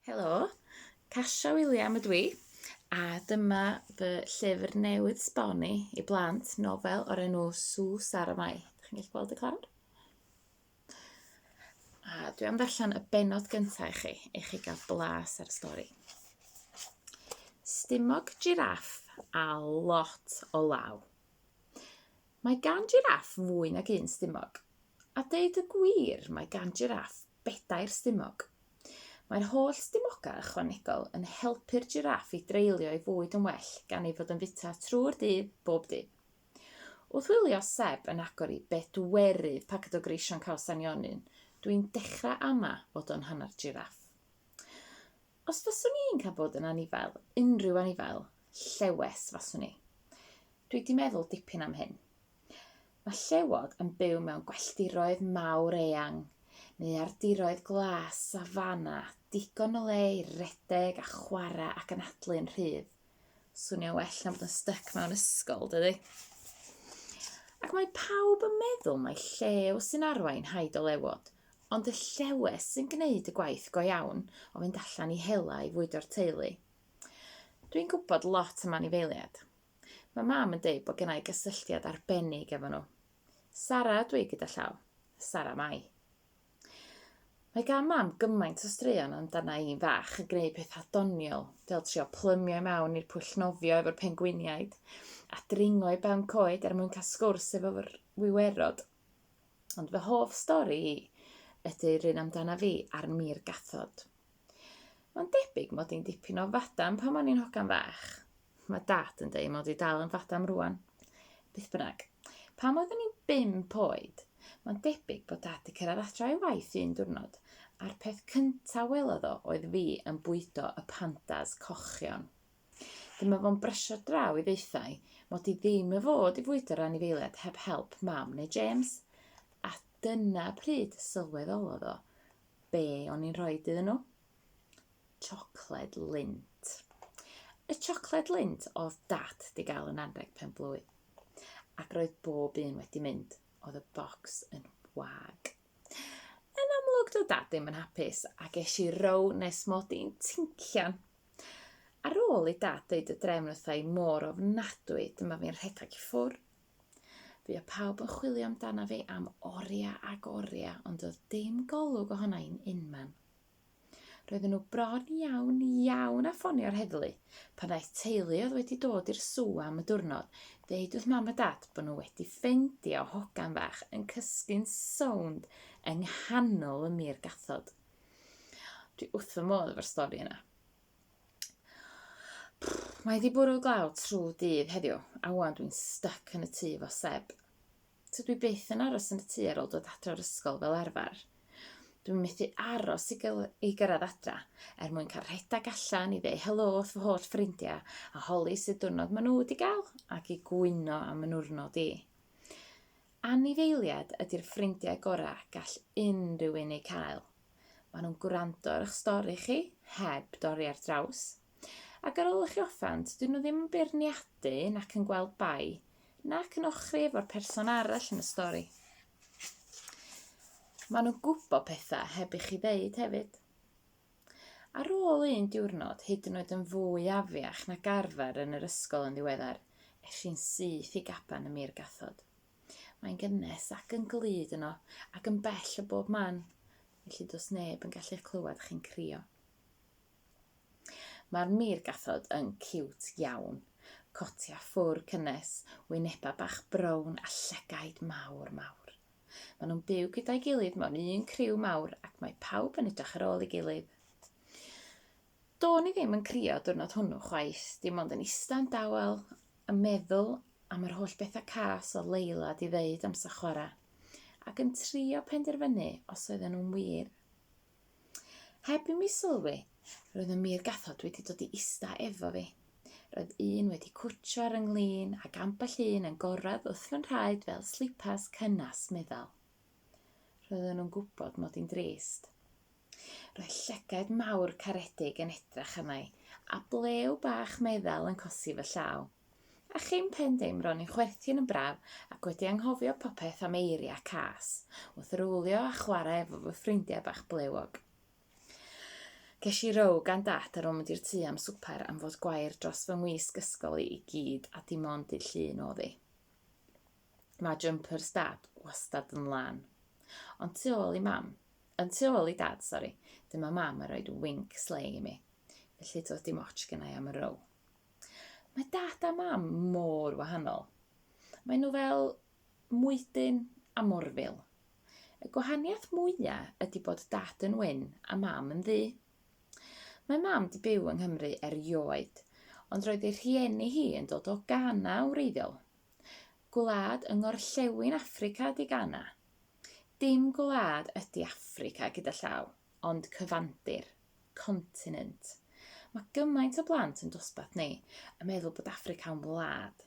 Helo, Kasia William ydw i, a dyma fy llyfr newydd sbon i i blant, nofel o'r enw Sws ar y Mae. Dych chi'n gallu gweld y clawr? A dwi am ddarllen y benod gyntaf i chi, i chi gael blas ar y stori. Stumog jiraff a lot o law. Mae gan jiraff fwy nag un stumog. A deud y gwir, mae gan jiraff bedair stumog. Mae'r holl stumogau ychwanegol yn helpu'r jiraff i dreulio ei fwyd yn well gan ei fod yn fwyta trwy'r dydd, bob dydd. Wrth wylio Seb yn agor i bedwerydd paced o greision Cawsan Ionyn, dwi'n dechrau ama fod o'n hanner jiraff. Os faswn i'n cael bod yn anifail, unrhyw anifail, llewes faswn i. Dwi wedi meddwl dipyn am hyn. Mae llewod yn byw mewn gwelldiroedd mawr eang, neu ardiroedd glas, safana, digon o le i redeg a chwarae ac anadlu'n rhydd. Swnio well na bod yn styc mewn ysgol, dydy? Ac mae pawb yn meddwl mai llew sy'n arwain haid o lewod, Ond y llewes sy'n gwneud y gwaith go iawn o fynd allan i hela i fwydo'r teulu. Dwi'n gwybod lot am anifeiliad. Mae mam yn deud bod gennau gysylltiad arbennig efo nhw. Sara ydw i gyda llaw. Sara Mai. Mae gan mam gymaint o straeon amdana i'n fach yn gwneud pethau doniol, fel trio plymio i mewn i'r pwll nofio efo'r pengwiniaid, a dringo i ben coed er mwyn cael sgwrs efo'r wiwerod. Ond fy hoff stori i ydy'r un amdana fi a'r mir gathod. Mae'n debyg mod i'n dipyn o fadam pan o'n i'n hogan fach. Mae dad yn dweud mod i dal yn fadam rwan. Beth bynnag, pan oeddwn i'n bimp oed, mae'n debyg bod dad wedi cyrraedd adra ei waith un diwrnod, a'r peth cyntaf welodd o oedd fi yn bwydo y pandas cochion. Dyma fo'n bresio draw i ddeithau mod i ddim yn fod i fwydo'r anifeiliaid heb help mam neu James. A dyna pryd y sylweddolodd o be o'n i'n rhoi iddyn nhw. Siocled lint. Y siocled lint oedd dad di gael yn anreg pen blwydd. Ac roedd bob un wedi mynd. Oedd y bocs yn wag. Yn amlwg do dad ddim yn hapus a ges i row nes mod i'n tincian. Ar ôl i dad dweud y drefn wrtha i mor ofnadwy, dyma fi'n rhedeg i ffwr. Fi o pawb yn chwilio amdana fi am oria ag oria, ond oedd dim golwg ohona i'n unman. Roedden nhw bron iawn iawn â ffonio'r heddlu pan ddaeth teulu oedd wedi dod i'r sw am y diwrnod ddeud wrth mam a dad bod nhw wedi ffeindio hogan fach yn cysgu'n sownd yng nghanol y mur gathod. Dwi wrth fy modd efo'r stori yna. Mae wedi bwrw glaw trwy dydd heddiw, a wan dwi'n stuck yn y tŷ fo Seb. So dwi byth yn aros yn y tŷ ar ôl dod adra o'r ysgol fel arfer. Dwi'n methu aros i, gyl, i gyrraedd adra er mwyn cael rhedeg allan i ddeu helo wrth fy holl ffrindiau a holi sydd diwrnod maen nhw wedi gael ac i gwyno am yn wrnod i. Anifeiliad ydy'r ffrindiau gorau gall unrhyw un eu cael. Maen nhw'n gwrando ar eich stori chi, heb dorri ar draws, Ac ar ôl i chi offend, dyn nhw ddim yn beirniadu nac yn gweld bai, nac yn ochri efo'r person arall yn y stori. Maen nhw'n gwybod pethau heb i chi ddeud hefyd. Ar ôl un diwrnod, hyd yn oed yn fwy afiach na garfer yn yr ysgol yn ddiweddar, es i'n syth i gaban y mir gathod. Mae'n gynnes ac yn glyd yno, ac yn bell o bob man, felly dos neb yn gallu clywed chi'n crio. Mae'r meirgathod yn ciwt iawn. Cotia ffwr cynnes, wyneba bach brown a llygaid mawr mawr. Maen nhw'n byw gyda'i gilydd mewn un criw mawr ac mae pawb yn edrych ar ôl ei gilydd. Do'n i ddim yn crio diwrnod hwnnw chwaith, dim ond yn ista'n dawel yn meddwl am yr holl bethau cas oedd Leila 'di ddeud amser chwarae ac yn trio penderfynu os oedden nhw'n wir. Heb i mi sylwi, roedd y mur gathod wedi dod i ista efo fi. Roedd un wedi cwtsio ar ynglyn ac ambell un yn gorradd wrth fy nhraed fel slipas cynnes meddal. Roedden nhw'n gwybod mod i'n drist. Roedd llygaid mawr caredig yn edrach arna i, a blew bach meddal yn cosi fy llaw. A chyn pen dim ro'n i'n chwerthin yn braf ac wedi anghofio popeth am eirie a cas, wrth rowlio a chwarae efo fy ffrindiau bach blewog. Ges i row gan Dad ar ôl mynd i'r tŷ am swper am fod gwair dros fy ngwisg ysgol i i gyd a dim ond dydd Llun oedd hi. Mae jumpers Dad wastad yn lan. Ond tu ôl i Mam, yn tu ôl i Dad, sori, dyma Mam yn rhoi winc slei i mi. Felly doedd dim ots gennai am y row. Mae dad a mam mor wahanol. Mae nhw fel mwydyn a morfil. Y gwahaniaeth mwya ydy bod dad yn wyn a mam yn ddu. Mae mam di byw yng Nghymru erioed, ond roedd ei rhieni hi yn dod o Ghana yn wreiddiol. Gwlad yng ngorllewin Affrica ydy Ghana. Dim gwlad ydy Affrica gyda llaw. ond cyfandir, continent. Mae gymaint o blant yn dosbarth ni yn meddwl bod Affrica'n wlad.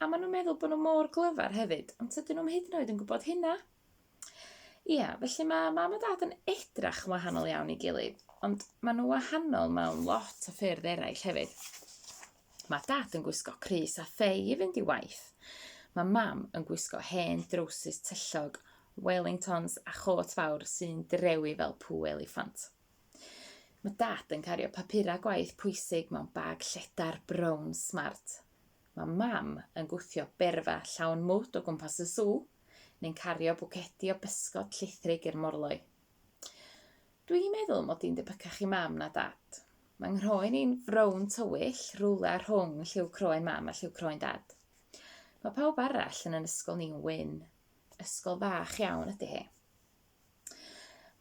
A maen nhw'n meddwl bod nhw mor glyfar hefyd, ond tydyn nhw'n hyd yn oed yn gwybod hynna. Ie, felly mae mam a dad yn edrach yn wahanol iawn i gilydd, ond maen nhw wahanol mewn lot o ffyrdd eraill hefyd. Mae dad yn gwisgo crys a thei i fynd i waith. Mae mam yn gwisgo hen drowsus tyllog, Wellingtons a chôt fawr sy'n drewi fel pŵ eliffant. Mae dad yn cario papurau gwaith pwysig mewn bag lledar brown smart. Mae mam yn gwthio berfa llawn mwd o gwmpas y sw, neu'n cario bwcedi o bysgod llithrig i'r morloi. Dwi'n meddwl mod i'n debycach i mam na dad. Mae nghroen i'n frown tywyll, rhywle rhwng lliw croen mam a lliw croen dad. Mae pawb arall yn yn ysgol ni'n wyn. Ysgol fach iawn ydy hi.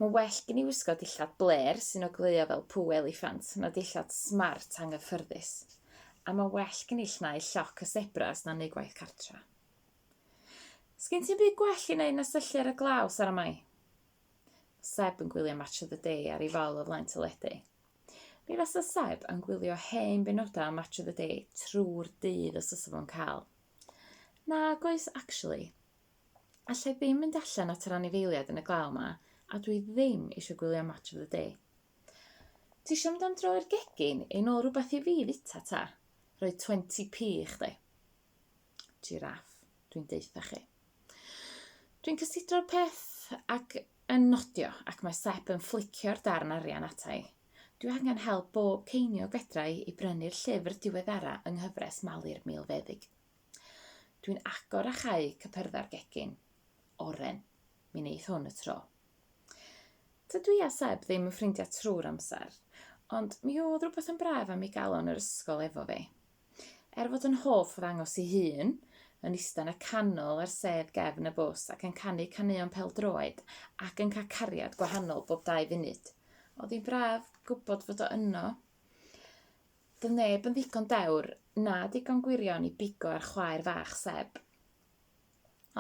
Mae well gen i wisgo dillad bler sy'n ogleuo fel pw eliffant na dillad smart anghyffyrddus. A mae well gen i llnau lloc y sebras na neu gwaith cartra. Sgyn ti'n byd gwell i wneud na syllu ar y glaw, Sara Mai? Seb yn gwylio Match of the Day ar ei fal o flaen teledu. Mi fasa Seb yn gwylio hen benodau o Match of the Day trwy'r dydd os oes fo'n cael. Nag oes, actually. Allai ddim mynd allan at yr anifeiliaid yn y glaw yma, a dwi ddim eisiau gwylio Match of the Day. Ti eisiau mynd am dro i'r gegin, ein ôl rhywbeth i fi fita ta? Rhoi 20p i chdi. Jiraff, dwi'n deutha chi. Dwi'n cysidro'r peth ac yn nodio ac mae Sep yn fflicio'r darn arian atai. Dwi angen help bob ceiniog fedra i i brynu'r llyfr diweddara yng nghyfres Malu'r Milfeddyg. Dwi'n agor a chau cypyrdda'r gegin. Oren. Mi neith hwn y tro. Dydw i a Seb ddim yn ffrindiau trwy'r amser, ond mi oedd rhywbeth yn braf am ei galon yr ysgol efo fi. Er fod yn hoff o ddangos ei hun, yn ista'n y canol ar sedd gefn y bws ac yn canu caneuon pêl-droed ac yn cael cariad gwahanol bob dau funud. Oedd hi'n braf gwybod fod o yno. Doedd neb yn ddigon dewr na digon gwirion i bigo ar chwaer fach Seb.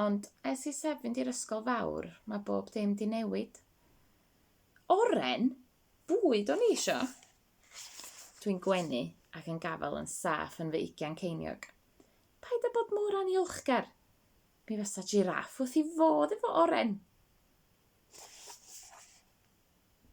Ond ers i Seb fynd i'r ysgol fawr, mae bob dim di newid. Oren! Bwyd o'n i isio! Dwi'n gwenu ac yn gafael yn saff yn fy ugian ceiniog. Paid â bod mor aniolchgar. Mi fysa jiraff wrth i fodd efo oren.